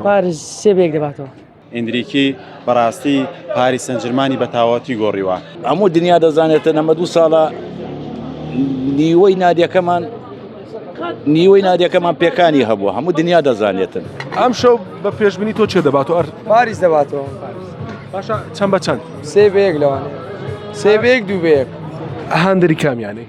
پاریس سێ بە یەک دەباتەوە. ئیندریکی بەڕاستی پاریس سەنجرمانی بە تاواتی گۆڕیوە. هەموو دنیا دەزانێتن ئەمە دوو ساڵە نیوەی نادیەکەمان نیوەی نادیەکەمان پێکانی هەبوو هەموو دنیا دەزانێتن ئەم شەو بە پێشبنی تۆ چێ دەبات و ئەر پاریس دەباتەوە باشە چەند بە چەند سێ بەیەک لەوان سێ بەیەک دوو بەیەک هەندری کامیانەی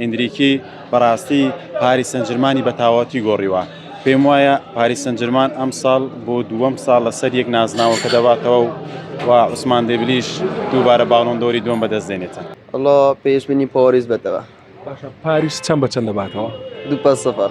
ئێندریکی بەڕاستی پاریس سەنجرمانی بە تاواوتی گۆڕیوە، پێم وایە پاریس سەنجرمان ئەمساڵ بۆ دووەم ساڵ لەسەر یەک نازناوەکە دەباتەوە و عوسمان دێمبلیش دووبارە باڵۆن دۆری دووەم بەدەست دێنێتە. وەڵا پێشبینی پاریس بە تەوە. باشە پاریس چەند بە چەند دەباتەوە؟ دوو پەس سفر.